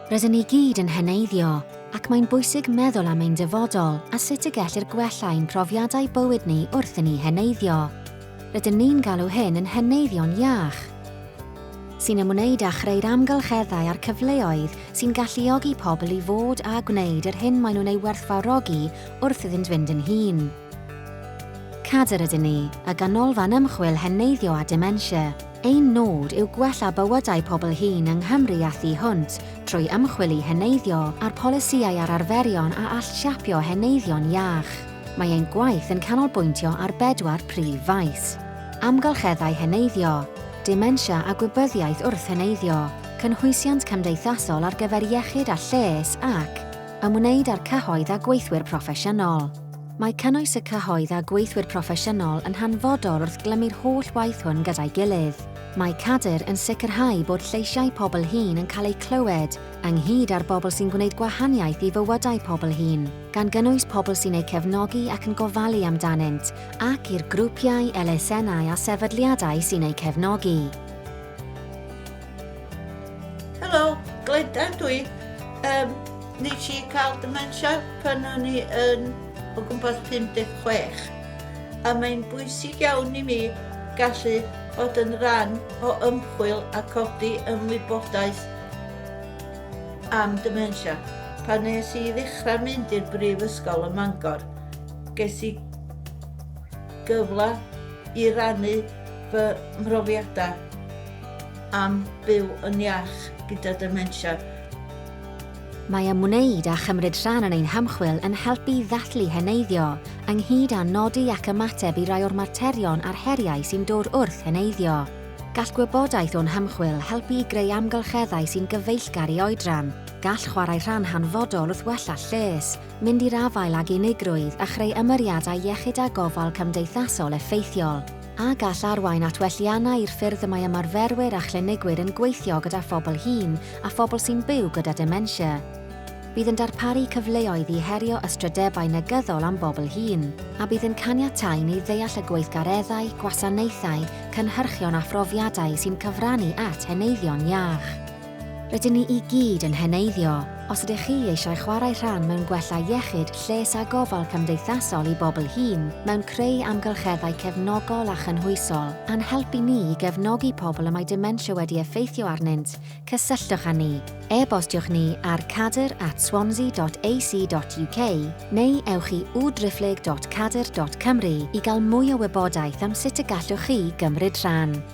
Rydyn ni gyd yn heneiddio, ac mae'n bwysig meddwl am ein dyfodol a sut y gellir gwella ein profiadau bywyd ni wrth i ni heneiddio. Rydyn ni'n galw hyn yn heneiddio'n iach sy'n ymwneud â chreu'r amgylcheddau a'r cyfleoedd sy'n galluogi pobl i fod a gwneud yr hyn maen nhw'n ei werthfawrogi wrth iddynt fynd yn hun. Cadair ydyn ni, a Ganolfan Ymchwil Heneiddio a Dementia. Ein nod yw gwella bywydau pobl hŷn yng Nghymru a thu hwnt trwy ymchwil i heneiddio a'r polisïau a'r arferion a all siapio heneiddio'n iach. Mae ein gwaith yn canolbwyntio ar bedwar prif faes, amgylcheddau heneiddio, dementia a gwybyddiaeth wrth heneiddio, cynhwysiant cymdeithasol ar gyfer iechyd a lles ac, ymwneud â'r cyhoedd a gweithwyr proffesiynol. Mae cynnwys y cyhoedd a gweithwyr proffesiynol yn hanfodol wrth glymu'r holl waith hwn gyda'i gilydd. Mae Cadir yn sicrhau bod lleisiau pobl hŷn yn cael eu clywed, ynghyd â'r bobl sy'n gwneud gwahaniaeth i fywydau pobl hŷn, gan gynnwys pobl sy'n eu cefnogi ac yn gofalu amdanynt, ac i'r grwpiau, elusennau a sefydliadau sy'n eu cefnogi. Helo, Glenda dw i. Um, nes i cael dementia pan o'n i yn o gwmpas 56 a mae'n bwysig iawn i mi gallu bod yn rhan o ymchwil a codi ymwybodaeth am dementia. Pan nes i ddechrau mynd i'r brifysgol ym Mangor, ges i gyfle i rannu fy mhrofiadau am byw yn iach gyda dementia. Mae ymwneud a chymryd rhan yn ein hymchwil yn helpu i ddathlu heneiddio, ynghyd â nodi ac ymateb i rai o'r materion a'r heriau sy'n dod wrth heneiddio. Gall gwybodaeth o'n hymchwil helpu i greu amgylcheddau sy'n gyfeillgar i oedran. Gall chwarae rhan hanfodol wrth wella lles, mynd i'r afael ag unigrwydd a chreu ymyriadau iechyd a gofal cymdeithasol effeithiol. a gall arwain at welliannau i'r ffyrdd y mae ymarferwyr a chlinigwyr yn gweithio gyda phobl hŷn a phobl sy'n byw gyda dementia. Bydd yn darparu cyfleoedd i herio ystrydebau negyddol am bobl hŷn, a bydd yn caniatáu ni ddeall y gweithgareddau, gwasanaethau, cynhyrchion a phrofiadau sy'n cyfrannu at heneiddion iach. Rydyn ni i gyd yn heneiddio. Os ydych chi eisiau chwarae rhan mewn gwella iechyd, lles a gofal cymdeithasol i bobl hŷn, mewn creu amgylcheddau cefnogol a chynhwysol, a'n helpu ni i gefnogi pobl y mae dementia wedi effeithio arnynt, cysylltwch â ni. E-bostiwch ni ar cadr at swansea.ac.uk neu ewch i www.driphlyg.cadr.cymru i gael mwy o wybodaeth am sut y gallwch chi gymryd rhan.